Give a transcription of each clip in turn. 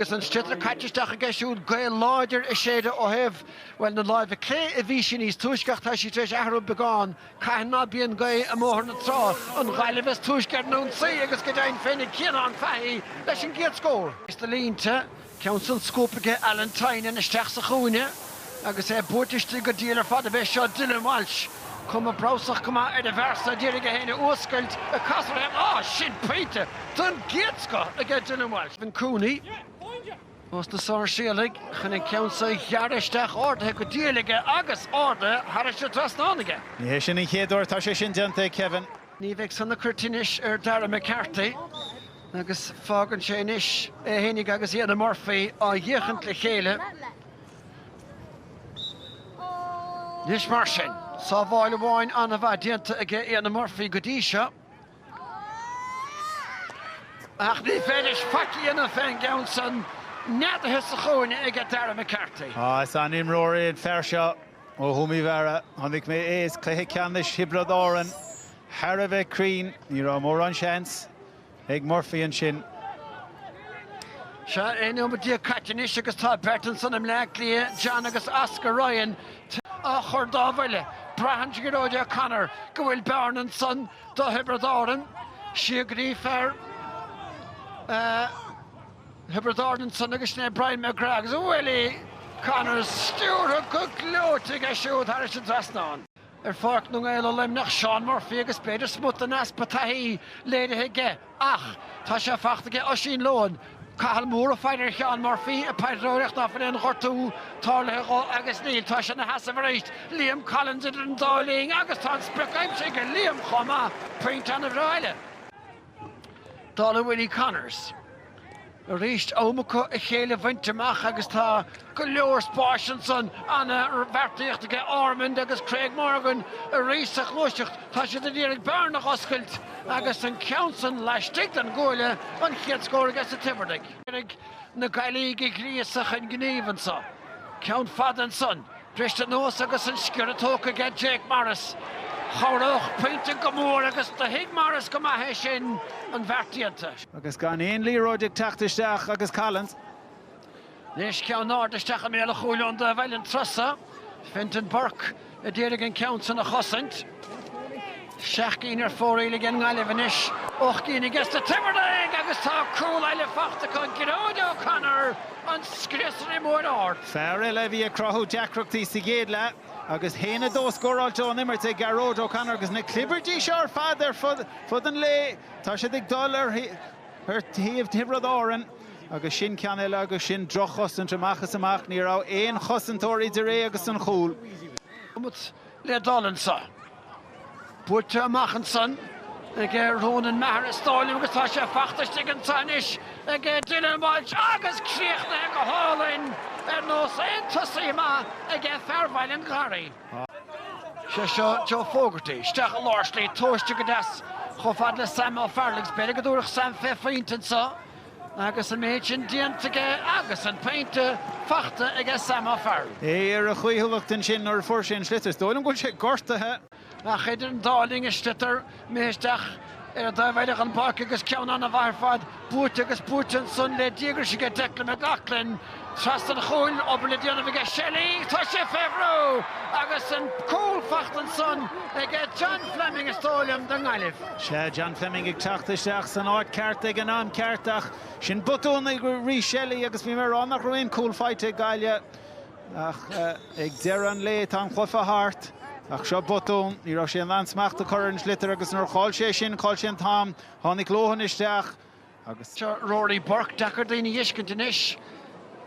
Agus an sliotar caite isteach aige siúd, gaoth láidir ag séideadh ó thaobh, bhuel, na láimhe clé a bhí sí níos túisce ach tá sí tar éis athrú beagán, cathain ná bíonn gaoth i mBóthar na Trá, an Ghaillimh is túisce ar an ionsaí agus go deimhin féinig Cianan Fahy leis an gcéad scór. Is do línte, ceann san scuabtha aige Alan Tynan isteach sa chúinne, Agus é buaite istigh go diail ar fad a bheith seo Dylan Walsh, cuma breabhsach go maith ar an bhfear so ag iarraidh é féin a fhuascailt, a casadh féin. Á, sin pointe den gcéad scoth aige Dylan Walsh. Kevin Cooney ós na Sáirséalaigh chun an ceann seo a ghearradh isteach ardaithe go diail aige agus ardaithe thairis an dtrasnán aige. Ní hé sin an chéad uair atá sé sin déanta ag Kevin. Ní bheidh san ag cur tinnis ar Darragh McCarthy agus fágann sé anois é féinig agus Éanna Murphy á fhéachaint le chéile Anois mar sin, sábháil amháin an-mhaith déanta aige Éanna Murphy go dtí seo ach ní féidir leis faic a dhéanamh fén gceann san, neadaithe sa chúinne aige Darragh McCarthy. Á, is an-imreoir é an fear seo ó Thuaim Uí Mheára. Chonaic mé é is cluiche ceannais Thiobraid Árann thar a bheith cruinn, ní raibh mórán seans. ag Murphy ansin. Seo 11 nóiméad caite anois agus tá beirt ansan i mBleá Cliath, John agus Oscar Ryan, á chur dá bhuille. Braitheann Gearóid O'Connor go bhfuil bearna ansan do Thiobraid Árann. Síograí fear Thiobraid Árann ansan agus sin é Brian McGrath agus Willie Connors stiúrtha go gleoite aige siúd thairis an trasnán. ar Pháirc na nGael i Luimneach, Seán Murphy agus b'fhéidir smut den easpa taithí léirithe aige, ach tá sé fachta aige Oisín Lohan, Cathal Moore ag faire ar Sheán Murphy ag paidreoireacht ná fuil aon ghortú tarlaithe dhó agus níl tá sé ina sheasamh arís, Liam Collins idir an dá linn agus tá an sprioc aimsithe ag Liam chomh maith, pointe ana bhreá eile. Dála Willie Connors, arís, iomarca a chéile bhaint amach agus tá go leor spáis ansan. Ana bheartaíocht aige Ormond agus Craig Morgan arís sa ghluaiseacht. Tá siad ag iarraidh bearna a oscailt agus an ceann san laistigh den gcuaille, an chéad scór aige sa Tivard. Ag iarraidh na Gaillimhigh a ghríosadh chun gnímh anso. Ceann fada ansan. Briste anuas agus an sciorradh tógtha aige Jake Morris. Chabhródh pointe go mór agus do thuig Morris go maith é sin an bheart déanta. Agus gan aon liathróid ag teacht isteach agus Collins. Anois ceann ard isteach i mbéal an chúil ón dtaobh eile an turas so, Fintan Burke ag iarraidh an ceann san a chosaint. Seacht gcinn ar fóraoil aige an nGaillimh anois, ocht gcinn aige sna Tiobradaigh agus tá cúl eile faighte acu, Gearóid O'Connor, an scriosaire mór ard. Fear eile a bhí ag cruthú deacrachtaí sa gcéad leath agus a haon a dó scóráilte ón imirt ag Gearóid O'Connor agus na clibirtí seo ar fad ar fud an lae, tá siad ag dul ar thaobh Thiobraid Árann agus sin ceann eile agus sin droch-chosaint amach is amach, ní raibh aon chosantóir idir é agus an chúl. le dul anso. Buailte amach ansan ag Rónan Maher is dóigh liom agus tá sé fachta istigh anso anois ag Dylan Walsh agus críochnaithe go hálainn ar nós aon tosaí maith ag fear Bhaile an Gharraí. Sé seo Joe Fogarty isteach i lár slí tomhaiste go deas chomh fada le Sam O'Farrell agus b'fhéidir go dtabharfadh Sam fé phointe anso. Agus an méid sin déanta aige agus an pointe fachta aige Sam O'Farrell. É ar a chaoithiúlacht ansin nuair a fuair sé an sliotar, is dóigh liom go bhfuil sé gortaithe. Ach idir an dá linn, an sliotar imithe isteach ar an dtaobh eile den bpáirc agus ceann ana-mhaith ar fad, buaite agus buaite ansan le díograis aige Declan McLoughlin. Chas an chúil obair le déanamh aige Shelly, tá sé fé bhrú! agus an cúl fachta ansan aige John Fleming, is dóigh liom, don nGaillimh. Sea, John Fleming ag teacht isteach san áit ceart ag an am ceart ach sin botún ag Rhys Shelly agus bhí mé ag rá nach raibh aon chúl faighte ag Gaillimh ach ag deireadh an lae tá an cluiche thart ach seo botún, ní raibh sé in ann smacht a chur ar an sliotar agus nuair a chaill sé sin, chaill sé an t-am, tháinig Lohan isteach. agus Rory Burke, deacair daoine a fheiscint anois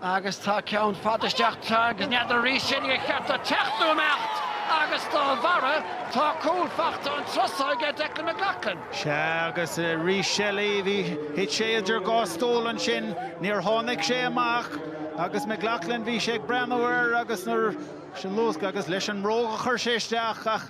agus tá ceann fada isteach tráth agus n'fheadar Rhys Shelly ar cheart dó teacht nó imeacht agus dá bharra tá cúl fachta an turas so aige Declan McLaughlin. Sea agus Rhys Shelly bhí, thit sé idir dhá stól ansin, níor tháinig sé amach agus McLaughlin bhí sé ag breathnú air agus nuair, sin luascadh agus leis an mbróg a chuir sé isteach ach,